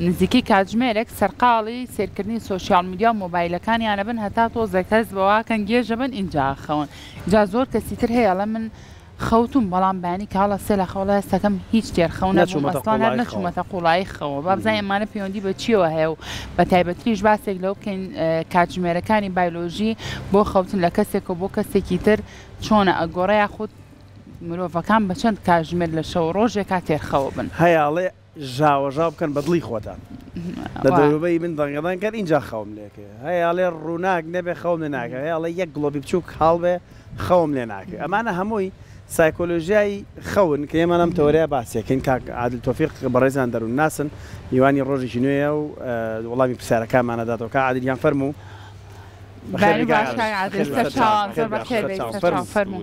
نزیکەی کاتژمێرێک سەرقاڵی سەیرکردنی سۆشیاڵ میدیا و مۆبایلەکانیانە بن هەتا تۆزێک هەست بەوەکەن گێژە بن ئینجا ئەخەون ئینجا زۆر کەسی تر هەیە ئەڵێ من خەوتوم بەڵام بەیانی کاڵ ئەستێ لە خەوەڵێ هەستەکەم هیچ تێر خەو نەبوم ئەسڵان هەر نەچومەتە قوڵایی خەوە با بزانین ئەمانە پەیوەندی بە چیەوە هەیە و بە تایبەتریش باسێک لەوە بکەین کاتژمێرەکانی بایلۆژی بۆ خەوتن لە کەسێکەوە بۆ کەسێکی تر چۆنە ئەگۆڕێ یاخود مرۆڤەکان بە چەند کاتژمێر لە شەوە ڕۆژێکا تێر خەوە بن. ژاوەژاو بکەن بە دڵی خۆتان لە دەوروبەری من دەنگەدەنگ کەن ئینجا خەوم لێ کەوێ هەیە ئەڵێ ڕووناک نەبێ خەوم لێ ناکەوێ هەیە ئەڵێ یەک گڵۆپی بچووک کاڵ بێ خەوم لێ ناکەوێ ئەمانە هەمووی سایکۆلۆژیای خەون کە ئێمە لەم تەوەرەیە باسیەکەین کاک عادل تۆفیق بەڕێزان دەروون ناسن میوانی ڕۆژێکی نوێیە و وەڵامی پرسیارەکانمانە داتەوە کاک عادل گیان فەرموو بەخێر بێی کاک عادل. بەخێر بێی سەرچاوان زۆر بەخێر بێی سەرچاوان فەرموو.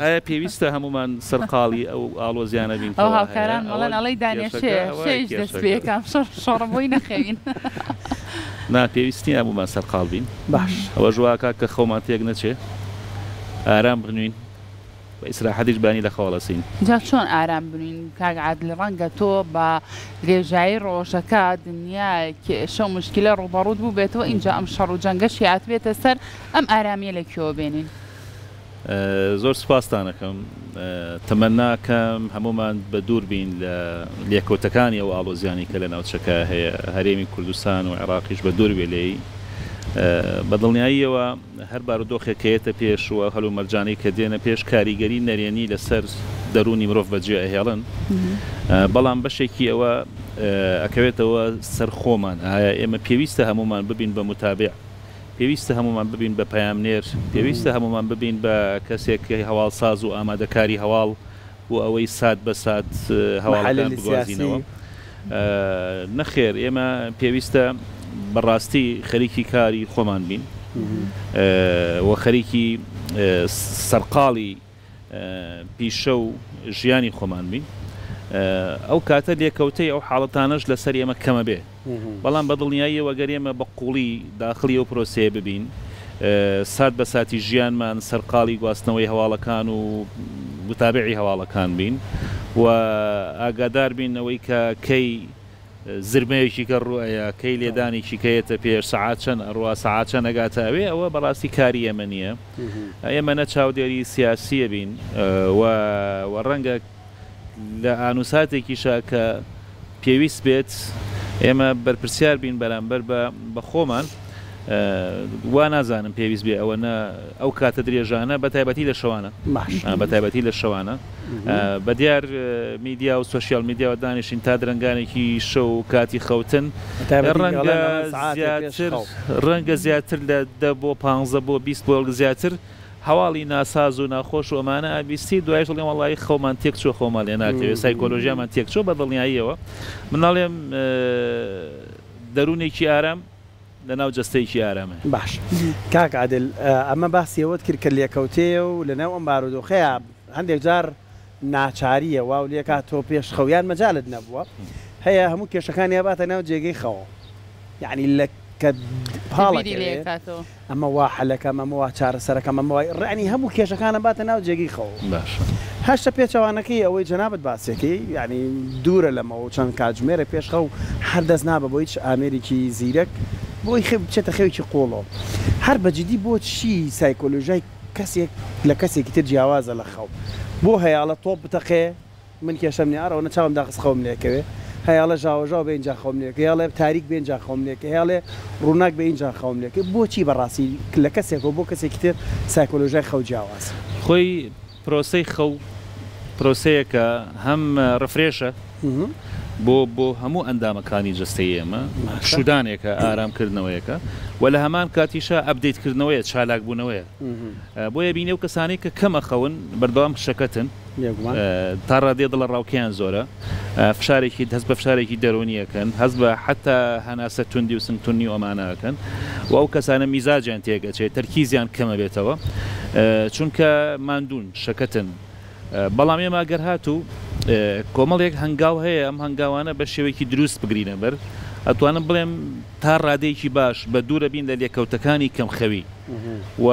ئایا پێویستە هەموومان سەرقاڵی ئەو ئاڵۆزیانە بین ئەو کەوا هەیە؟ هاوکاران ئەوە مەڵێن ئەڵێی دانیە کێشەکە شێ ئەوە شێیش دەست کێشەکە. پێ کام شەڕ شەڕە بۆی نەخەوین نا پێویست نییە هەموومان سەرقاڵ بین. باش. ئەوەش وا ئەکات کە خەومان تێک نەچێ. ئارام بنوین. بە ئیسراحەتیش بانی لە خەو هەڵەسین. جا چۆن ئارام بنوین کاک عادل ڕەنگە تۆ بە درێژایی ڕۆژەکە دنیا کێشە و مشکیلە ڕووبەڕووت بووبێتەوە ئینجا ئەم شەڕ و جەنگەشی هاتبێتە سەر ئەم ئارامیە لە کوێوە بێنین؟ زۆر سوپاستان ئەکەم تەمەنا کەم هەموومان بە دوور بین لە لێکەوتەکانی ئەو ئاڵۆزیانی کە لە ناوچەکە هەیە هەرێمی کوردستان و عێڕاقیش بە دوور بێ لێی بە دڵنیاییەوە هەر بارودۆخێک کە یەتە پێش و هەلومەرجانەی کە دێنە پێش کاریگەری نەرێنی لە سەر دەروونی مرۆڤ بە جێ ئەهێڵن بەڵام بەشێکی ئەوە ئەکەوێتەوە سەر خۆمان ئایا ئێمە پێویستە هەموومان ببین بە متابع پێویستە هەموومان ببین بە پەیامنێر، پێویستە هەموومان ببین بە کەسێک کە هەواڵساز و ئامادەکاری هەواڵ بۆ ئەوەی سات بە سات هەواڵەکان بگوازینەوە. نەخێر ئێمە پێویستە بە ڕاستی خەریکی کاری خۆمان بین و خەریکی سەرقاڵی. پیشە و ژیانی خۆمان بین ئەو کاتە لێکەوتەی ئەو حاڵەتانەش لەسەر ئێمە کەمە بێ بەڵام بە دڵنیاییەوە گەر ئێمە بە قوڵی داخڵی ئەو پرۆسەیە ببین سات بە ساتی ژیانمان سەرقاڵی گواستنەوەی هەواڵەکان و متابعی هەواڵەکان بین و ئاگادار بین ئەوەی کە کەی زرمەیەکی کە ڕوو ئەیا کەی لێدانێکی کە یەتە پێش سەعات چەن ئەڕوا سەعات چەن ئەگاتە ئەوێ ئەوە بەڕاستی کاری ئێمە نییە ئێمە نە چاودێری سیاسیە بین و وە ڕەنگە لە ئانوساتێکیشا کە پێویست بێت ئێمە بەرپرسیار بین بەرامبەر بە بە خۆمان وا نازانم پێویست بێ ئەوە نە ئەو کاتە درێژانە بە تایبەتی لە شەوانە بە تایبەتی لە شەوانە بەدیار میدیا و سۆشیال میدیاوە دانیشین تا درەنگانێکی شەو و کاتی خەوتن ڕەنگە زیاتر ڕەنگە زیاتر لە دە بۆ پانزە بۆ بیست بۆڵگ زیاتر هەواڵی ناساز و ناخۆش و ئەمانە ئەبیستی دوایش دڵێم وەڵی خەومان تێک چوە خۆمان لێ ناتەوێ سایکۆلۆژیامان تێک چوە بە دڵنیاییەوە مناڵێم دەروونێکی ئارام لەناو جەستەیەکی ئارامە. باش کاک عادل ئەمە باسی ئەوەت کرد کە لێکەوتەیە و لەناو ئەم بارودۆخەیە هەندێک جار ناچارییە واو لێکات تۆ پێش خەو یان مەجالت نەبووە هەیە هەموو کێشەکانی ئەباتە ناو جێگەی خەوە یانی لە کە پاڵەکەوێ ئەمە وا حەلەکەم ئەمە وا چارەسەرەکەم ئەمە وای ڕانی هەموو کێشەکانە باتە ناو جێگەی خەوە باش هەشتە پێچەوانەکەی ئەوەی جەنابەت باسێکی یعنی دوورە لەمەوە چەند کاتژمێرە پێش خەو هەردەست نابە بۆ هیچ ئامێرێکی زیرەک بۆی خێ بچێتە خەوێکی قۆڵۆ هەر بەجددی بۆ چی سایکۆلۆژای کەسێک لە کەسێکی تر جیاوازە لە خەو بۆ هەیاڵە تۆپ بتەقێ من کێشەم نیە ئەڕۆنە چاوم داخست خەوم لێکەوێ هەیاڵە ژاوەژاو بێ ئینجا خەوم لێکەوێ هەیاڵێ تاریک بێ ئینجا خەوم لێکەوێ هەیاڵێ ڕووناک بێ ئینجا خەوم لێکەوێ بۆچی بەڕاستی لە کەسێکەوە بۆ کەسێکی تر سایکۆلۆژیای خەو جیاوازە. خۆی پرۆسەی خەو پرۆسەیەکە هەم ڕفرێشە. بۆ بۆ هەموو ئەندامەکانی جەستەی ئێمە شودانێکە ئارام کردنەوەیەکە و لە هەمان کاتیشە ئەبدەیت کردنەوەیە چالاک بوونەوەیە بۆیە بینێ و کەسانی کە کەمە خەون بەردەوام شەکەتن تا ڕادێ دڵە ڕاوکیان زۆرە فشارێکی دەست بە فشارێکی دەرونیەکەن هەز بە حتا هەناسە توندی و سنگتونی و ئەمانەکەن و ئەو کەسانە میزاجیان تێگەچێت تەرکیزیان کەمە بێتەوە چونکە مادون شەکەتن بەڵام ئێمە گەر هاتوو کۆمەڵێک هەنگاو هەیە ئەم هەنگاوانە بە شێوەیەکی دروست بگرینە بەر ئەتوانم بڵێم تا ڕادەیەکی باش بە دوورە بین لە لێکەوتەکانی کەم خەوی و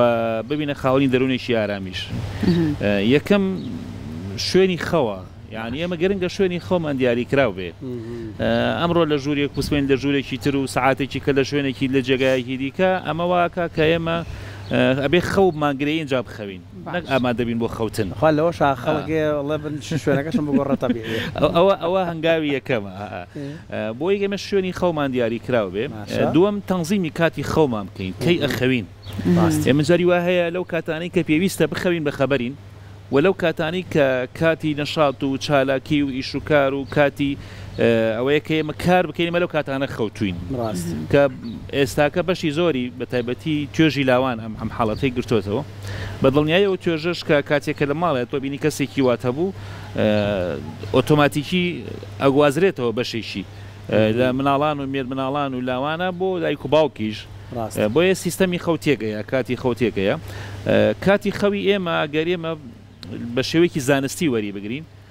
ببینە خاوەنی دەروونێکی ئارامیش یەکەم شوێنی خەوە یعنی ئێمە گەرنگە شوێنی خۆمان دیاری کراو بێ ئەمڕۆ لە ژوورێک پوسمێن لە ژوورێکی تر و سعاتێکی کە لە شوێنێکی لە جێگایەکی دیکە ئەمە واکە کە ئێمە ئەبێ خەو ماگرەی اینجا بخەوین نەک ئامادەبین بۆ خەوتن. خوا لەوەشا خەڵک هەیە ئەڵێ بن شوێنەکەشم بگۆڕە تەبیعیە. ئەوە هەنگاوی یەکەمە بۆی ئێمە شوێنی خەومان دیاری کراو بێ. دووەم تەنزیمی کاتی خەومان بکەین کەی ئەخەوین. ئێمە جاری وا هەیە لەو کاتانەی کە پێویستە بخەوین بە خەبەرین و لەو کاتانەی کە کاتی نەشات و چالاکی و ئیش و کار و کاتی ئەوەیە کە ئێمە کار بکەین ئێمە لەو کاتانە خەوتووین. کە ئێستاکە بەشی زۆری بە تایبەتی توێژی لاوان ئەم حاڵەتەی گرتۆتەوە. بە دڵنیایەوە توێژەرش کە کاتێک کە لە ماڵێ تۆ بینی کەسێکی وات هەبوو ئۆتۆماتیکی ئەگوازرێتەوە بەشێکی لە مناڵان و مێرمناڵان و لاوانە بۆ دایک و باوکیش ڕاستە بۆیە سیستەمی خەو تێکەیە کاتی خەو تێکەیە کاتی خەوی ئێمە گەر ئێمە بە شێوەیەکی زانستی وەری بگرین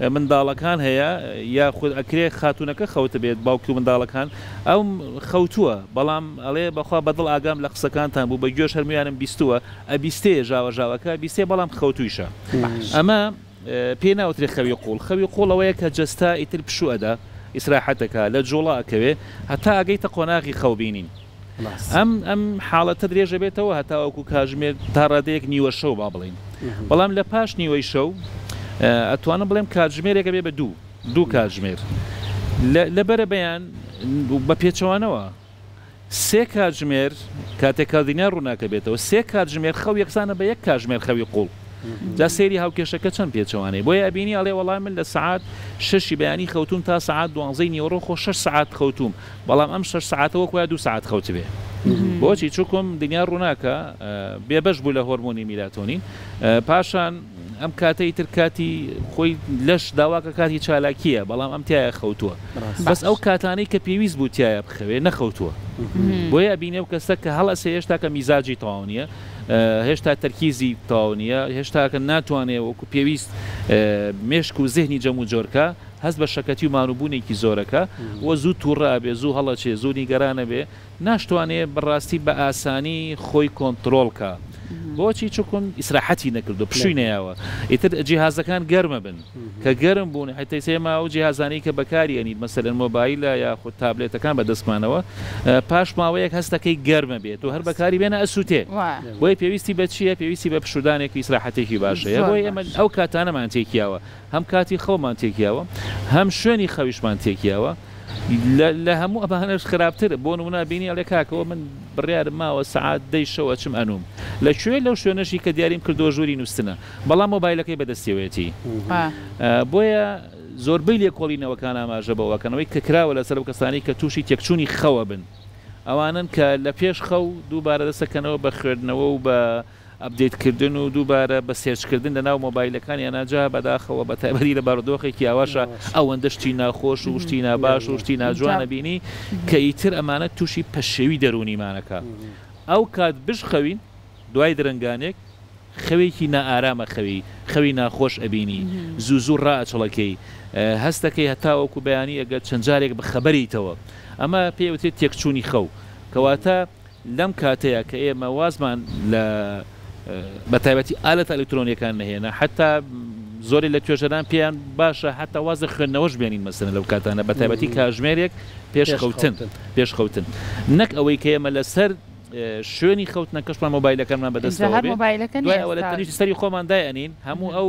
منداڵەکان هەیە یاخود ئەکرێ خاتونەکە خەوتبێت باوکی و منداڵەکان ئەو خەوتووە بەڵام ئەڵێ بەخوا بەدڵ ئاگام لە قسەکانتان بوو بەگوێش هەر مویانم بیستووە ئەبیستێ ژاوە ژاوەکە بیستێ بەڵام خەوتوویشە ئەمە پێی ناوترێ خەوی قوڵ خەوی قوڵ ئەوەیە کە جەستە ئیتر پشوو ئەدا ئیسراحەت ئەکا لە جوڵە ئەکەوێ هەتا ئەگەیتە قۆناغی خەو بینین. ئەم ئەم حاڵەتە درێژەبێتەوە هەتاوەکو کاژمێر تا ڕادەیەک نیوە شەو با بڵین بەڵام لە پاش نیوەی شەو ئەتوانم بڵێم کاتژمێرێکە بێ بە دوو دوو کاتژمێر لە بەرە بەیان بە پێچەوانەوە سێ کاتژمێر کاتێک کاردینیا ڕووناکە بێتەوە سێ کاتژمێر خەو یەکسانە بە یەک کاتژمێر خەوی قوڵ جا سێری هاوکێشەکە چەند پێچەوانەی بۆیە ئەبینی ئەڵێ وەڵام من لە سعات شەشی بەیانی خەوتوم تا سعات دوانزەی نیوەڕۆ خۆ شش سعات خەوتوم بەڵام ئەم شەش سەعاتە وەک وایە دوو سەعات خەوتبێ بۆچی چوکم دنیا ڕووناکە بێبەش بوو لە هۆرمۆنی میلاتۆنین پاشان ئەم کاتەی تر کاتی خۆی لەش داواکە کاتی چالاکیە بەڵام ئەم تایە خەوتووە بەس ئەو کاتانەی کە پێویست بوو تایە بخەوێ نەخەوتووە بۆیە بینێ و کەسە کە هەڵەسێ هێشتا کە میزاجی تەواو نیە هێشتا تەرکیزی تاو نیە هێشتاکە ناتوانێ وەکو پێویست مێشک و زهنی جەمو جۆرکە هەست بە شەکەتی و ماروبوونێکی زۆرەکە و زوو تووڕە ئەبێ، زوو هەڵەچێ، زوو نیگەران ئەبێ، ناشتوانێ بەڕاستی بە ئاسانی خۆی کۆنتڕۆڵ کا. بۆچی؟ چوکن ئیسراحەتی نەکردووە، پشووی نەیاوە. ئیتر جیهازەکان گەرم ئەبن، کە گەرم بوون، ئیتر ئێمە ئەو جیهازانەی کە بەکاری ئەنیت، مەسەلەن مۆبایلە یاخود تابلێتەکان بە دەستمانەوە، پاش ماوەیەک هەست ئەکەی گەرم ئەبێت و هەر بەکاری بێنە ئەسووتێ. بۆیە پێویستی بە چییە؟ پێویستی بە پشوودانێک و ئیسراحەتێکی باش هەیە. بۆیە ئێمە ئەو کاتانەمان تێکیاوە. هەم کاتی خەومان تێک یاوە هەم شوێنی خەویشمان تێک یاوە لە هەموو ئەمانەش خراپتر بۆ نمونا بینی ئەڵێ کاکەوە من بڕیارم ماوە سعات دەی شەوە چم ئەنوم لە کوێ لەو شوێنەشی کە دیاریم کردو ژووری نووسنە بەڵام مۆبایلەکەی بەدەستیەوەیەتی بۆیە زۆربەی لێکۆڵینەوەکان ئاماژە بەوەکەنەوەی کە کراوە لەسەر و کەسانی کە تووشی تێکچووی خەوە بن ئەوانن کە لە پێش خەو دووبارە دەسەکەنەوە بە خوێندنەوە و بە ئەپدەیت کردن و دووبارە بە سێرچ کردن لە ناو مۆبایلەکان یانا جا بەداخەوە بە تایبەتی لە بارودۆخێکی ئاواشا ئەوەندە شتی ناخۆش و شتی ناباش و شتی ناجوان ئەبینی کە ئیتر ئەمانە تووشی پەشێوی دەروونیمان ئەکا ئەو کات بشخەوین دوای درەنگانێک خەوێکی نائارام ئەخەوی خەوی ناخۆش ئەبینی زوو زوو ڕائەچڵەکێی هەست ئەکەی هەتاوەکو بەیانی ئەگەر چەند جارێک بخەبەریتەوە ئەمە پێ ئەوترێت تێکچوونی خەو کەواتە لەم کاتەیا کە ئێمە وازمان لە بە تایبەتی ئالەتە ئەلکترۆنیەکان نەهێنا حەتا زۆرێ لە توێژەران پێیان باشە حەتا واز لە خوێندنەوەش بێنین مەسەلەن لەو کاتانە بە تایبەتی کاژمێرێک پێش خەوتن پێش خەوتن نەک ئەوەی کە ئێمە لەسەر شوێنی خەوتنەکەشمان مۆبایلەکانمان بەدەستەوە بێ دوای ئەوە لە تەنیشت سەری خۆمان دایئەنین هەموو ئەو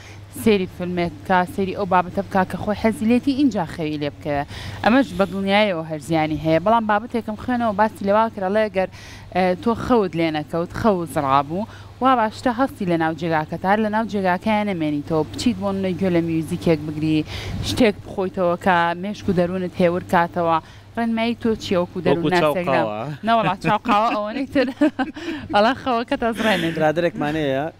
سێری فیلمێک بکا سێری ئەو بابەتە بکا کە خۆی حەزی لێتی ئینجا خەوی لێ بکەوێ ئەمەش بە دڵنیایەوە هەر زیانی هەیە بەڵام بابەتێکم خوێنەوە باسی لە وا کرد ئەڵێ ئەگەر تۆ خەوت لێ نەکەوت خەوت زڕابوو وا باشترە هەستی لە ناو جێگاکەت هەر لە ناو جێگاکەیان نەمێنیتەوە بچیت بۆ نمونە گوێ لە میوزیکێک بگری شتێک بخۆیتەوە کە مێشک و دەروونت هێور کاتەوە ڕێنمایی تۆ چییە وەکو وەکو دەروون چاو ناسێک نام قاوە نەوەڵا چاو قاوە ئەوەنەی تر ئەڵا خەوەکەت ئەزڕێنێ. برادەرێکمان هەیە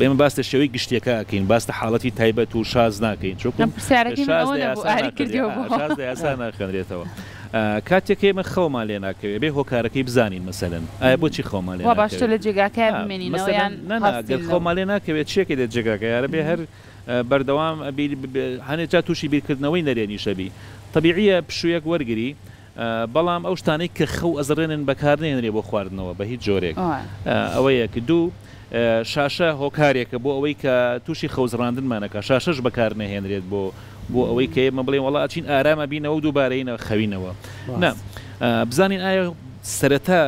ئێمە باس لە شێوەی گشتیەکە ئەکەین باس لە حاڵەتی تایبەت و شاز ناکەین چونکو شاز لە یاسا ناخوێنرێت شاز لە یاسا ناخوێنرێتەوە کاتێک ئێمە خەومان لێ ناکەوێت ئەبێ هۆکارەکەی بزانین مەسەلەن ئایا بۆچی خەومان لێ ناکەوێت واباشترە لە جێگاکەیا بمێنینەوە یان هەڵسین لەوە گەر خەومان لێ ناکەوێت چیەکەی لە جێگاکەیا ئەرە بێ هەر بەردەوام بیر هەنێ جا تووشی بیرکردنەوەی نەرێنیشەبی تەبیعیە پشوویەک وەرگری بەڵام ئەو شتانەی کە خەو ئەزڕێنن بەکار نەهێنرێ بۆ خواردنەوە بە هیچ جۆرێک. ئەوە یەک. دوو، شاشە هۆکارێکە بۆ ئەوەی کە تووشی خەوزڕاندنمان ئەکا. شاشەش بەکار نەهێنرێت بۆ بۆ ئەوەی کە ئێمە بڵێین وەڵا ئەچین ئارام ئەبینەوە و دووبارە یەین ئەخەوینەوە. نا. بزانین ئایا سەرەتا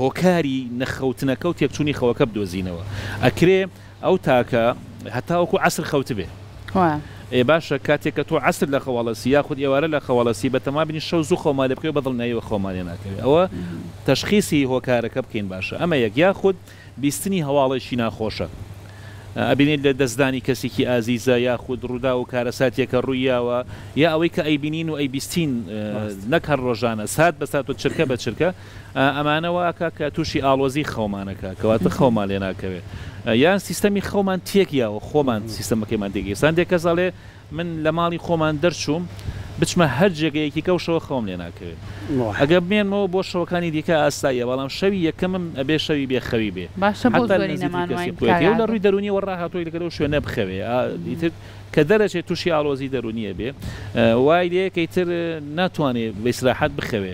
هۆکاری نەخەوتنەکە و تێکچوونی خەوەکە بدۆزینەوە. ئەکرێ ئەو تاکە هەتاوەکو عەسر خەوتبێ. وایە. ئێ باشە کاتێک کە تۆ عەسر لە خەوا لەسی یاخود ئێوارە لە خەوا لەسی بەتەما بنی شەو زوو خەومان لێ بکەوێ بەدڵنیاییەوە خەومان لێ ناکەوێ ئەوە تەشخیسی هۆکارەکە بکەین باشە ئەمە یەک یاخود بیستنی هەواڵێکی ناخۆشە ئەبینێت لە دەستدانی کەسێکی ئازیزە یاخود ڕووداو و کارەساتێکە ڕووی یاوە یا ئەوەی کە ئەیبینین و ئەیبیستین نەک هەر ڕۆژانە سات بە سات و چرکە بە چرکە ئەمانە وا ئەکا کە تووشی ئاڵۆزی خەومان ئەکا کەواتە خەومان لێ ناکەوێ یان سیستەمی خەومان تێک یاوە خۆمان سیستەمەکەیمان تێک یەسان دێ کەس ئەڵێ من لە ماڵی خۆمان دەرچووم بچمە هەر جێگە یەکیکە و شەوە خەوم لێ ناکەوێ ئەگە بمێنمەوە بۆ شەوەکانی دیکە ئاساییە بەڵام شەوی یەکەمم ئەبێ شەوی بێ خەوی بێ باشە بۆ حەتتا لە زۆری نزیکی کەسی نەمانوین قوێتی و لە ڕووی کاگادۆ دەروونیەوە ڕاهاتۆی لەگە لەو شوێنە بخەوێ ئا ئیتر کە دەرەچێ تووشی ئاڵۆزی دەروونی ئەبێ وای لێ کە ئیتر ناتوانێ بە ئیسراحەت بخەوێ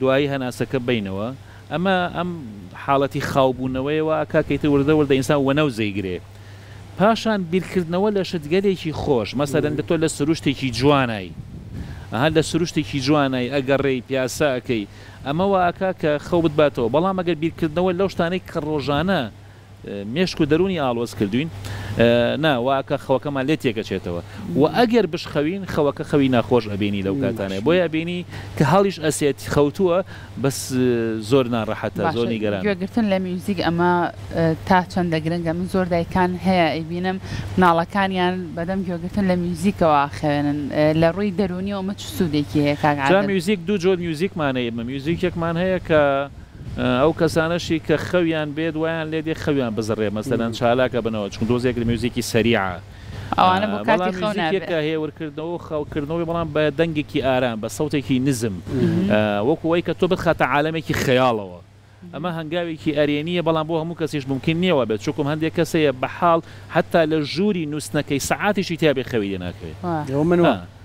دوایی هەناسەکە بەینەوە ئەمە ئەم حاڵەتی خاو بوونەوەیە وا ئەکا کە ئیتر وردە وردە ئینسان وەنەوز ئەیگرێ پاشان بیرکردنەوە لە شتگەلێکی خۆش مەسەلەن دە تۆ لە سروشتێکی جوانای ئەها لە سروشتێکی جوانای ئەگەڕێی پیاسە ئەکەی ئەمە وا ئەکا کە خەو بتباتەوە بەڵام ئەگەر بیرکردنەوە لەو شتانەی کە ڕۆژانە مێشک و دەروونی ئاڵۆز کردووین نا واکە خەوەکەمان لێ تێکەچێتەوە وە ئەگەر بشخەوین خەوەکە خەوی ناخۆش ئەبینی لەو کاتانێ بۆیە بینی کە هەڵیش ئەسێت خەوتووە بەس زۆر ناڕەحەتە زۆر نیگەران گوێگرتن لە میوزیک ئەمە تا چەندە گرنگە من زۆر دایکان هەیە ئەیبینم مناڵەکانیان بەدەم گوێگرتن لە میوزیکەوە خوێنن لە ڕووی دەرونی ئەومە چ سوودێکی هەیە کاک میوزیک دوو جۆر میوزیکمانەیە مە میوزیکێکمان هەیە کە ئەو کەسانەشی کە خەویان بێت وایان لێ دێ خەویان بزڕێ مەسەلەن چالاک ئەبنەوە چونکە تۆزێک لە میوزیکی سەریعە ئەوانە بۆ کاتی بەڵام خەو میوزیکێک نابێ کە هێورکردنەوە و خەوکردنەوەی بەڵام بە دەنگێکی ئارام بە سەوتێکی نزم ە وەکو ئەوەی کە تۆ بتخاتە عالەمێکی خەیاڵەوە ئەمە هەنگاوێکی ئەرێنییە بەڵام بۆ هەموو کەسیش مومکین نییە وا بێت چوکم هەندێک کەس هەیە بە حاڵ حەتتا لە ژووری نوستنەکەی سەعاتێکی تیا بێ خەوی لێ ناکەوێ وا. ئەوە من وام.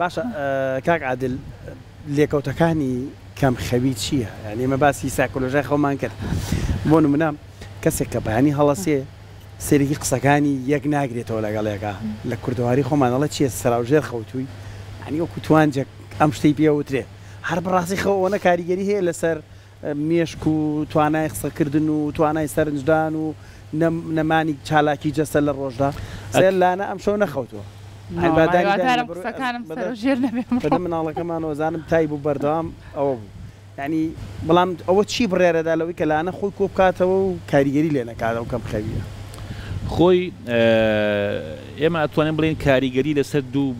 باشە کاک عادل لێکەوتەکانی کەم خەوی چیە یانی ئێمە باسی سایکۆلۆژای خەومان کرد بۆ نمونە کەسێک کە بەیانی هەڵەسێ سەیرێکی قسەکانی یەک ناگرێتەوە لەگەڵ یەکا لە کوردەواری خۆمان ئەڵێ چیە سەراو ژێر خەوتووی یانی وەکو توانجێک ئەم شتەی پێ وترێ هەر بەڕاستی خەو ئەوەنە کاریگەری هەیە لەسەر مێشک و توانای قسەکردن و توانای سەرنجدان و نەمانی چالاکی جەستە لە ڕۆژدا سێر لانە ئەم شەو نەخەوتووە هیوادارم قسەکانم سەرو ژێر نەبێ ئەمڕۆ. بەدەم مناڵەکەمانەوە زانم تای بوو بەردەوام ئەوە بوو یانی بەڵام ئەوە چی بڕیارەدا لەوەی کە لانە خۆی کۆبکاتەوە و کاریگەری لێ نەکات ئەو کەم خەوییە. خۆی. ئێمە ئەتوانین بڵێین کاریگەری لەسەر دوو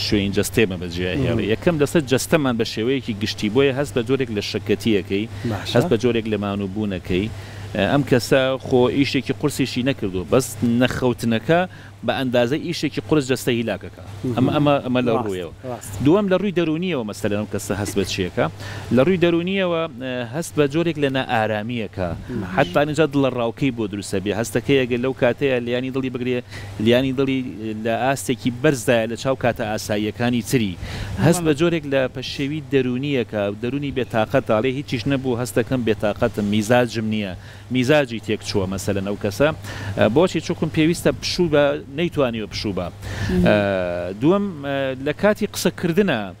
شوێنی جەستەیەمان بەجێهێڵی، یەکەم لەسەر جەستەمان بە شێوەیەکی گشتی، بۆیە هەست بە جۆرێک لە شەکەتییەکەی، هەست بە جۆرێک لە مانووبوونەکەی، ئەم کەسە خۆ ئیشێکی قورسیشی نەکردووە، بەس نەخەوتنەکە بە ئەندازەی ئیشێکی قورس جەستە هیلاک ئەکا، ئەمە لە ڕوویەوە. دووەم لە ڕووی دەروونییەوە مەسەلەن ئەم کەسە هەست بە چی ئەکا؟ لە ڕووی دەروونییەوە هەست بە جۆرێک لە نائارامی ئەکا، حەتتا ئینجا دڵەڕاوکێی بۆ دروست ئەبێ، هەستەکەی ئەگەر لەو کاتەیا لێیانی دڵی بگرێ، لیانی دڵی لە ئاستێکی بەرزدایە لە چاو کاتە ئاساییەکانی تری. هەست بە جۆرێک لە پەشێوی دەروونییەکە، دەروونی بێ تاقەتە، ئەڵێ هیچیش نەبوو، هەست دەکەم بێ تاقەتم، میزاجم نییە، میزاجی تێک چووە مەسەلەن ئەو کەسە. بۆچی؟ چونکم پێویستە پشوو بە، نەیتوانیوە پشوو بە. دووەم، لە کاتی قسە کردنا.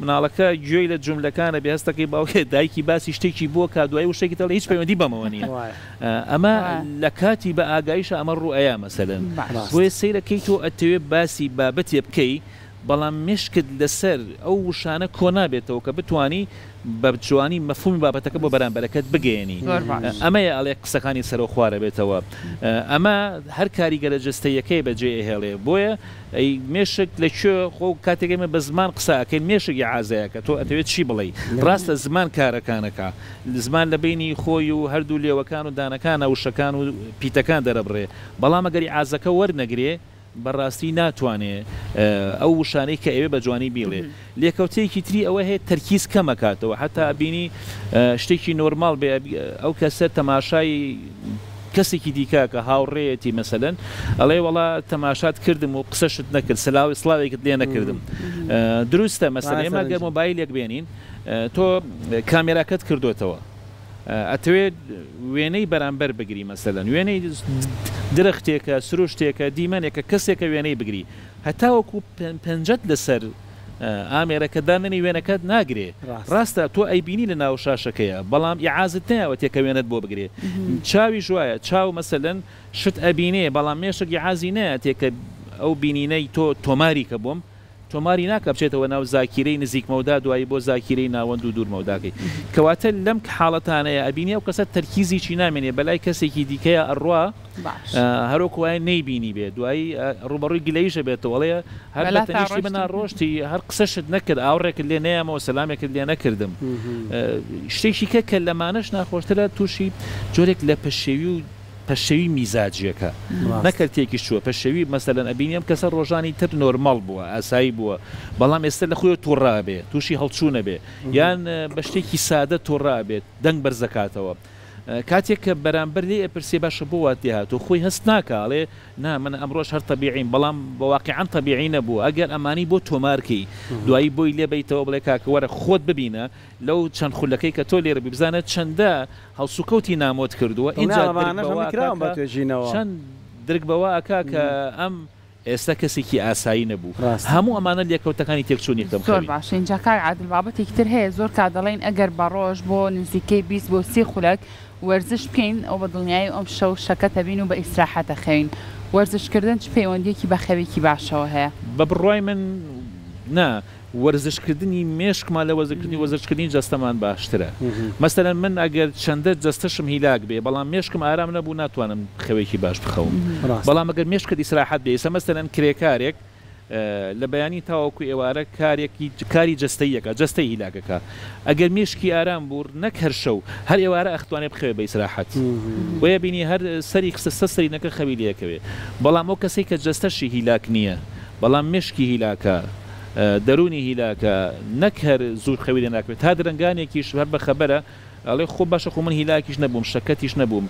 مناڵەکە گوێی لە جوملەکان ئەبێ هەستەکەی باوکی دایکی باسی شتێکی بۆ کا دوایی وشەکی دەڵێ هیچ پەیوەندی بەمەوە نیە ئەمە لە کاتی بە ئاگایشە ئەمە ڕوو ئەیا مەسەلەن بۆیە سەیرە کەی تۆ ئەتەوێ باسی بابەتێ بکەی بەڵام مشکت لەسەر ئەو وشانە کۆ نابێتەوە کە بتانی بە جوانی مەفهومی بابەتەکە بۆ بەرامبەرەکەت بگەیەنی ئەمەیە ئەڵێ قسەکانی سەرەوخوارەبێتەوە ئەمە هەر کاریگەرە جەستەیەکەی بەجێ ئەهێڵێ بۆیە ئەی مێشک لە کوێ خۆ کاتێک ئێمە بە زمان قسە ئەکەین مێشک ئیعازە ئەکا تۆ ئەتەوێ چی بڵێی ڕاستە زمان کارەکان ئەکا زمان لە بەینی خۆی و هەردوو لێوەکان و دانەکانە وشەکان و پیتەکان دەرەبڕێ بەڵام ئەگەر ئیعازەکە وەرنەگرێ بەڕاستی ناتوانێ ئەو وشانەی کە ئەوێ بە جوانی بیڵێ. لێکەوتەیەکی تری ئەوە هەیە تەرکیز کەم ئەکاتەوە هەتا ئەبینی شتێکی نۆرماڵ بێ ئەو کەسە تەماشای کەسێکی دیکە ئەکا هاوڕێیەتی مەسەلەن ئەڵێ وەڵا تەماشات کردم و قسەشت نەکرد سلاوی سڵاوێکت لێ نەکردم دروستە مەسەلە ئێمە گەر مۆبایلێک بێنین تۆ کامێراکەت کردوتەوە ئەتەوێت وێنەی بەرامبەر بگری مەسەلەن وێنەی درەختێکە سروشتێکە دیمەنێکە کەسێکە وێنەی بگری هەتاوەکو پەنجەت لەسەر ئامێرەکە دانەنێی وێنەکەت ناگرێ ڕاستە تۆ ئەیبینی لە ناو شاشەکەیە بەڵام ئیعازت نایەوەتێ کە وێنەت بۆ بگرێ چاویش وایە چاو مەسەلەن شت ئەبینێ بەڵام مێشک ئیعازی نایەتێ کە ئەو بینینەی تۆ تۆماری کە بۆم تۆماری ناکا بچێتەوە ناو زاکیرەی نزیکمەودا دوایی بۆ زاکیرەی ناوەند و دوورمەوداکەی کەواتە لەم حاڵەتانەیە ئەبینی ئەو کەسە تەرکیزیی نامێنێ بەلای کەسێکی دیکەیا ئەڕوا هەروەک وایە نەیبینی بێ دوایی ڕوبەڕووی گلەیشە بێتەوەڵێ هەر لە تەنیشتی بنا ڕۆشتی هەر قسەشت نەکرد ئاوڕێکت لێ نەیەمەوە سەلامێکت لێ نەکردم شتێکی کە کە لەمانەش ناخۆشترە تووشی جۆرێک لە پەشێوی و پەشەوی میزاجیەکە نەکرد تێکی چووە پەشەوی مەسەلەن ئەبینیم کەسە ڕۆژانی تر نۆرمەڵ بووە ئاسایی بووە بەڵام ئێستا لە خۆی تووڕابێ تووشی هەڵچوونە بێ یان بە شتێکی سادە تووڕابێت دەنگ بەرزەکاتەوە کاتێک کە بەرامبەر لێی ئەپرسێ باشە بۆ وات لێ هاتووە خۆی هەست ناکا ئەڵێ نا من ئەمڕۆش هەر تەبیعیم بەڵام واقیعەن تەبیعی نەبوو ئەگەر ئەمانەی بۆ تۆمار کەی دوایی بۆی لێ بەیتەوە بڵێ کاکە وەرە خۆت ببینە لەو چەند خولەکەی کە تۆ لێرە بووی بزانە چەندە هەڵسوکەوتی نامۆت کردووە ئینجا درک بەوە ئەکا کە چەند درک بەوە ئەکا کە ئەم ئێستا کەسێکی ئاسایی نەبوو. ڕاستە. هەموو ئەمانە لێکەوتەکانی تێکچوون یەکدەم زۆر خەوی. باشە ئینجا کاک عادل بابەتێکی تر هەیە زۆر کات دەڵێین ئەگەر بە ڕۆژ بۆ نزیکەی بیست بۆ سی خولەک وەرزش بکەین ئەوە بە دڵنیایی ئەم شەو شەکەت دەبین و بە ئیسراحەت دەخەوین وەرزش کردن چ پەیوەندیەکی بە خەوێکی باشەوە هەیە؟ بە بڕوای من نا. وەرزشکردنی مێشکمان لە وەرزکردنی وەرزشکردنی جەستەمان باشترە مەسەلەن من ئەگەر چەندە جەستەشم هیلاک بێ بەڵام مێشکم ئارام نەبوو ناتوانم خەوێکی باش بخەوم بەڵام ئەگەر مێشکت ئیسراحەت بێ ئیستا مەسەلەن کرێکارێک لە بەیانی تاوەکو ئێوارە کارێکی کاری جەستەی یەکا جەستەی هیلاکەکە ئەگەر مێشکی ئارام بوو نەک هەر شەو هەر ئێوارە ئەختوانێ بخەوێ بە ئیسراحەت بۆیە بینی هەر سەری خستە سەر سەرینەکە خەوی لێکەوێ بەڵام ئەو کەسەی کە جەستەشی هیلاک نییە بەڵام مێشکی هیلاکە دەروونی هیلاکە نەک هەر زوو خەوی لێ ناکەوێت تا درەنگانێکیش هەر بە خەبەرە ئەڵێ خۆ باشە خۆ من هیلاکیش نەبووم شەکەتیش نەبووم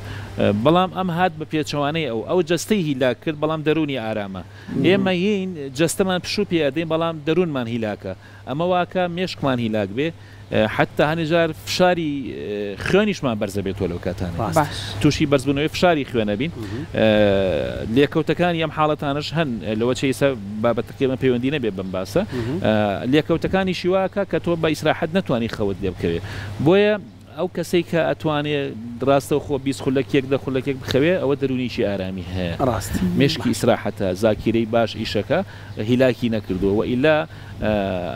بەڵام ئەم هات بە پێچەوانەی ئەو ئەو جەستەی هیلاک کرد بەڵام دەروونی ئارامە ئێمە یین جەستەمان پشوو پێ ئەدەین بەڵام دەروونمان هیلاکە ئەمە واکە مێشکمان هیلاک بێ حەتتا هەنێ جار فشاری خوێنیشمان بەرز دەبێت تۆ لەو کاتانە تووشی بەرزبوونەوەی فشاری خوێنە بین لێکەوتەکانی ئەم حاڵەتانش هەن لەوە چیسە بابەتەکەمە پەیوەندی نەبێ بم باسە لێکەوتەکانی شیواکە کە تۆ بە ئیسراحەت نتوانانی خەوت لێ بکەوێت بۆیە ئەو کەسێک کە ئەتوانێ ڕاستە خۆ بی خولەکێک دە خولەکێک بخەوێ ئەوە دەرونیی ئارامی هەیە ڕاست مشکی ئیسراحەتە زاکیرەی باش ئیشەکە هیلاکی نەکردووە وە ئیلا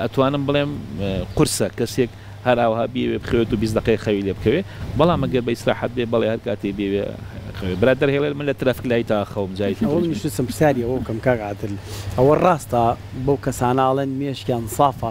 ئەتوانم بڵێم قورسە کەسێک هەر ئاوها بیەوێ بخەوێت و بیست دەقەیەک خەوی لێ بکەوێ بەڵام گەر بە ئیسراحەت بێ بەڵێ هەر کاتێ بیەوێ خەوێ برا دەرهێڵێت من لە ترافک لای تا خەوم جاری تر ئەوە منیش ویستم پرسیاری ئەوە بکەم کاک عادل ئەوە ڕاستە بەو کەسانە ئەڵێن مێشکیان سافە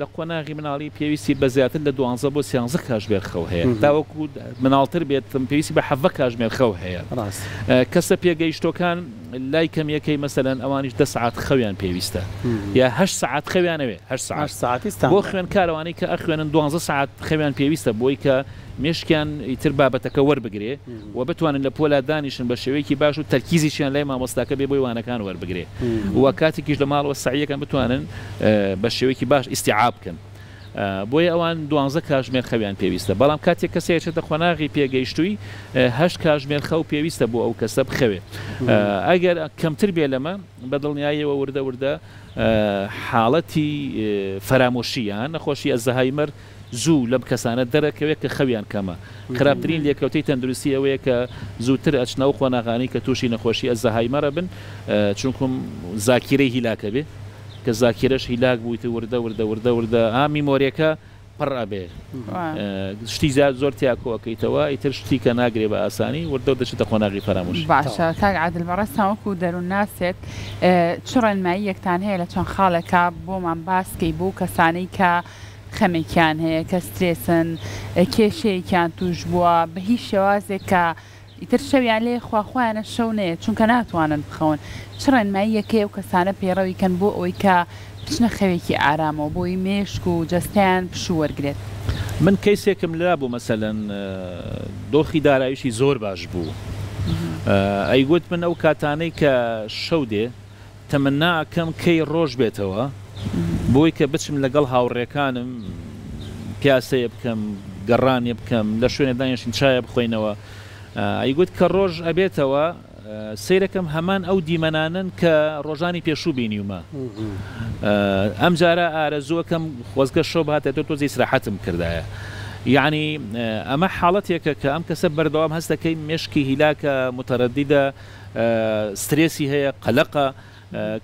لە قۆناغی مناڵی پێویستی بە زیاتر لە دوانزە بۆ سیانزە کاژمێر خەو هەیە، تاوەکو مناڵتر بێت پێویستی بە حەڤە کاژمێر خەو هەیە. کەسە پێگەیشتووەکان لای کەمییەکەی مەسەلەن ئەوانیش دە سەعات خەویان پێویستە یا هەشت سەعات خەویان ئەوێ هەشت سەعات بۆ خوێندکار ئەوانەی کە ئەخوێنن دوانزە سەعات خەویان پێویستە بۆی کە مێشکیان ئیتر بابەتەکە وەربگرێ و بتوانن لە پۆلا دانیشن بە شێوەیەکی باش و تەرکیزیشیان لای مامۆستاکە بێ بۆی وانەکان وەربگرێ و کاتێکیش لە ماڵەوە سەعیەکەن بتوانن بە شێوەیەکی باش ئیستیعاب بکەن بۆیە ئەوان دوانزە کاژمێر خەویان پێویستە بەڵام کاتێک کەسێ ئەچێتە قۆناغی پێگەیشتووی هەشت کاژمێر خەو پێویستە بۆ ئەو کەسە بخەوێ ئەگەر کەمتر بێ لەمە بە دڵنیایەوە وردە وردە حاڵەتی فەرامۆشی یان نەخۆشی ئەلزەهایمەر زوو لەم کەسانە دەرەکەوێت کە خەویان کەمە. خراپترین لێکەوتەی تەندروستی ئەوەیە کە زووتر ئەچنە ئەو قۆناغانەی کە تووشی نەخۆشی ئەلزەهایمەر ئەبن چونکو زاکیرەی هیلاک ئەبێت کە زاکیرەش هیلاک بوویت وردە وردە وردە وردە ها میمۆریەکە پڕ ئەبێت شتی زیاد زۆر تیا کۆ ئەکەیتەوە ئیتر شتی کە ناگرێ بە ئاسانی وردە وردە دەچێتە قۆناغی فەرامۆشی. باشە کاک عادل بەڕێزتان وەکو دەروونناسێک چ ڕێنماییەکتان هەیە لە چەند خاڵێکا بۆمان باس کەی بۆ ئەو کەسانەی کە خەمێکیان هەیە کە سترێسن، کێشەیەکیان تووش بووە بە هیچ شێوازێک کە ئیتر شەویان لێ خوا خۆیانە شەو نەیەت چونکە ناتوانن بخەون، چ ڕێنماییەکی ئەو کەسانە پەیڕەوی کەن بۆ ئەوەی کە بچنە خەوێکی ئارامەوە بۆی مێشک و جەستەیان پشوو وەرگرێت؟ من کەیسێکم لرا بوو مەسەلەن دۆخی دارایشی زۆر باش بوو ئەیگوت من ئەو کاتانەی کە شەو دێ، تەمەنا ئەکەم کەی ڕۆژ بێتەوە بۆی کە بچم لەگەڵ هاوڕێکانم پیاسەیە بکەم گەڕانێ بکەم لە شوێنێ دانیشین چایە بخۆینەوە ئەیگوت کە ڕۆژ ئەبێتەوە سەیرەکەم هەمان ئەو دیمەنانن کە ڕۆژانی پێشوو بینیومە ئەم جارە ئارەزوەکەم خۆزگە شەو باتە تۆ تۆزی سراحەتم کردایە یعنی ئەمە حاڵەتێکە کە ئەم کەسە بەردەوام هەستەکەی مشکی هیلاکە متەرەدیدە سترێسی هەیە، قەلەقە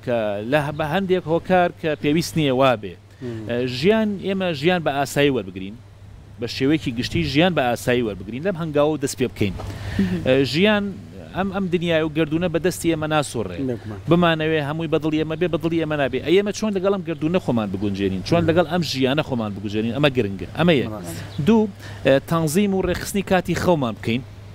کە لە بە هەندێک هۆکار کە پێویست نییە وابێ ژیان ئێمە ژیان بە ئاسایی وەربگرین، بە شێوەیەکی گشتی ژیان بە ئاسایی وەربگرین لەم هەنگاوە و دەست پێ بکەین ژیان ئەم ئەم دنیای و گەردوونە بە دەستی ئێمە ناسوڕێ بمانەوێ هەمووی بە دڵی ئێمە بێ بە دڵی ئێمە نابێ ئەی ئێمە چۆن لەگەڵ ئەم گەردوونە خۆمان بگونجێنین چۆن لەگەڵ ئەم ژیانە خۆمان بگوزێنین ئەمە گرنگە ئەمە یەک دوو تەنزیم و ڕێکخستنی کاتی خەومان بکەین.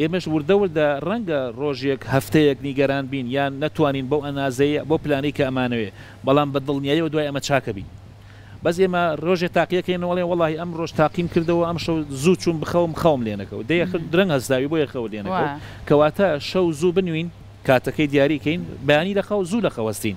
ئێمەش وردە وردە ڕەنگە ڕۆژێک، هەفتەیەک نیگەران بین یان نەتوانین بەو ئەنازەی، بەو پلانەی کە ئەمانەوێ، بەڵام بە دڵنیایەوە دوای ئەمە چاکە بین. بەس ئێمە ڕۆژێ تاقیە کەینەوە ئەڵێن وەڵاهی ئەمڕۆش تاقیم کردەوە ئەمشەو زوو چووم بخەوم خەوم لێ نەکەوت دەی ئەخر درەنگ هەستاوی بۆیە خەوت لێ نەکەوت کەواتە شەو زوو بنوین کاتەکەی دیاری کەین بەیانی لە خەو زوو لە خەو هەستین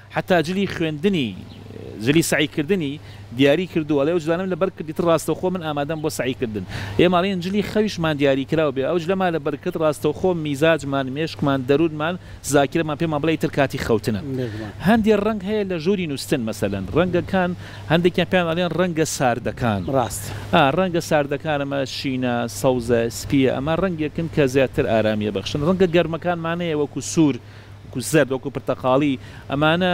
حەتا جلی خوێندنی، جلی سەعی کردنی، دیاری کردووە، ئەڵێ ئەو جلانەم لە بەر کرد ئیتر ڕاستەوخۆ من ئامادەم بۆ سەعی کردن. ئێمە ئەڵێین جلی خەویشمان دیاری کراو بێ ئەو جلەمان لە بەر کرد ڕاستەوخۆ میزاجمان، مێشکمان، دەروونمان، زاکیرەمان پێمان بڵێ ئیتر کاتی خەوتنە. هەندێ ڕەنگ هەیە لە ژووری نووستن مەسەلەن ڕەنگەکان هەندێکیان پێیان ئەڵێن ڕەنگە ساردەکان. ئا ڕەنگە ساردەکان ئەمە شینە، سەوزە، سپییە ئەمە ڕەنگێکن کە زیاتر ئارامیی ئەبەخشن. ڕەنگە گەرمەکان مانەیە وەکوو سوور، وەکو زەرد، وەکو پرتەقاڵی، ئەمانە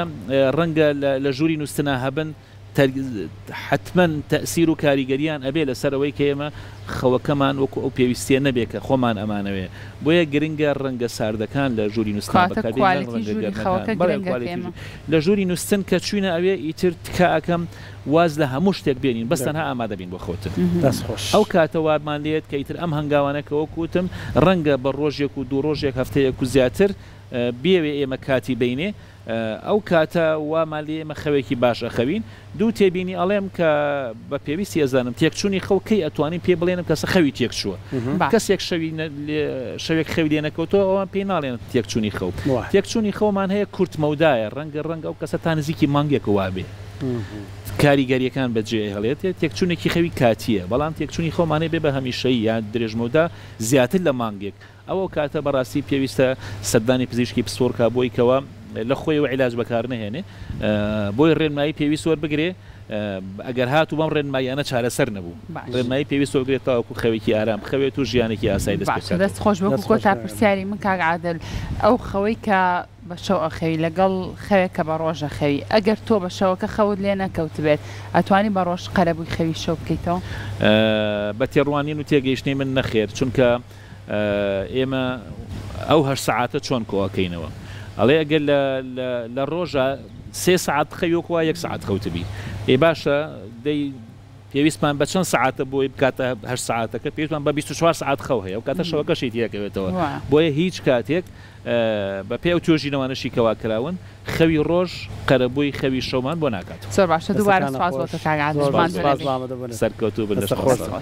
ڕەنگە لە ژووری نووستنا هەبن، حەتمەن تەئسیر و کاریگەرییان ئەبێ لەسەر ئەوەی کە ئێمە خەوەکەمان وەکو ئەو پێویستییە نەبێ کە خۆمان ئەمانەوێ، بۆیە گرنگە ڕەنگە ساردەکان لە ژووری نووستنا بەکاربێنین نەک ڕەنگە گەرمەکان. بەڵێ کوالیتی ژووری خەوەکە گرنگە پێمە. لە ژووری نووستن کە چووینە ئەوێ ئیتر تکا ئەکەم، واز لە هەموو شتێک بێنین بەس تەنها ئامادە بین بۆ خەوتن دەست خۆش. ئەو کاتە وابمان لێت کە ئیتر ئەم هەنگاوانە کە وەکو وتم ڕەنگە بە ڕۆژێک و دوو ڕۆژێک هەفتەیەک و زیاتر بیەوێ ئێمە کاتی بینێ ئەو کاتە وامان لێ ئێمە خەوێکی باش ئەخەوین دوو تێبینی ئەڵێم کە بە پێویستی ئەزانم تێکچونی خەو کەی ئەتوانین پێ بڵێنم کەسە خەوی تێک چووە کەسێک شەوی شەوێک خەوی لێ نەکەوتەوە ئەوان پێی ناڵێن تێکچونی خەو تێکچونی خەومان هەیە کورت مەودایە ڕەنگە ڕەنگە ئەو کەسە تا نزیکی مانگێک وابێ. کاریگەرییەکان بەجێهێڵێت، تێکچوونێکی خەوی کاتییە، بەڵام تێکچوونی خەومان هەبێت بە هەمیشەیی یان درێژمەودا زیاتر لە مانگێک، ئەو کاتە بەڕاستی پێویستە سەردانی پزیشکی پسپۆڕ کا بۆی کەوە لەخۆیەوە عیلاج بەکارنەهێنێ بۆی ڕێنمایی پێویست وەربگرێ ئەگەر هاتوو بەم ڕێنماییانە چارەسەر نەبوو ڕێنمایی پێویست وەرگرێت تاوەکو خەوێکی ئارام بخەوێت و ژیانێکی ئاسای دەست پێ بکات. باشە دەست خۆش وەکو کۆتا پرسیاری من کاک عادل ئەو خەوەی کە بە شەو ئەخەوی لەگەڵ خەوێک کە بە ڕۆژ ئەخەوی؟ ئەگەر تۆ بە شەوەکە خەوت لێ نەکەوتبێت، ئەتوانی بە ڕۆژ قەرەبووی خەوی شەو بکەیتەوە؟ بە تێڕوانین و تێگەیشتنی من نەخێر، چونکە ئێمە ئەو هەشت سەعاتە چۆن کۆ ئەکەینەوە؟ ئەڵێ ئەگەر لە ڕۆژا سێ سەعات بخەوی وەکو وا یەک سەعات خەوتبی، ئێ باشە دەی پێویستمان بە چەند سەعاتە بۆی بکاتە هەشت سەعاتەکە؟ پێویستمان بە بیست و چوار سەعات خەو هەیە، ئەو کاتە شەوەکەشی تێ ئەکەوێتەوە، بۆیە هیچ کاتێک بە پێی ئەو توێژینەوانەشی کە وا کراون خەوی ڕۆژ قەرەبووی خەوی شەومان بۆ ناکات. زۆر باشە دووبارە سوپاس بۆ تۆ کاک عادل ماندوو نەبی. سەرکەوتوو بن لەش خۆشتان.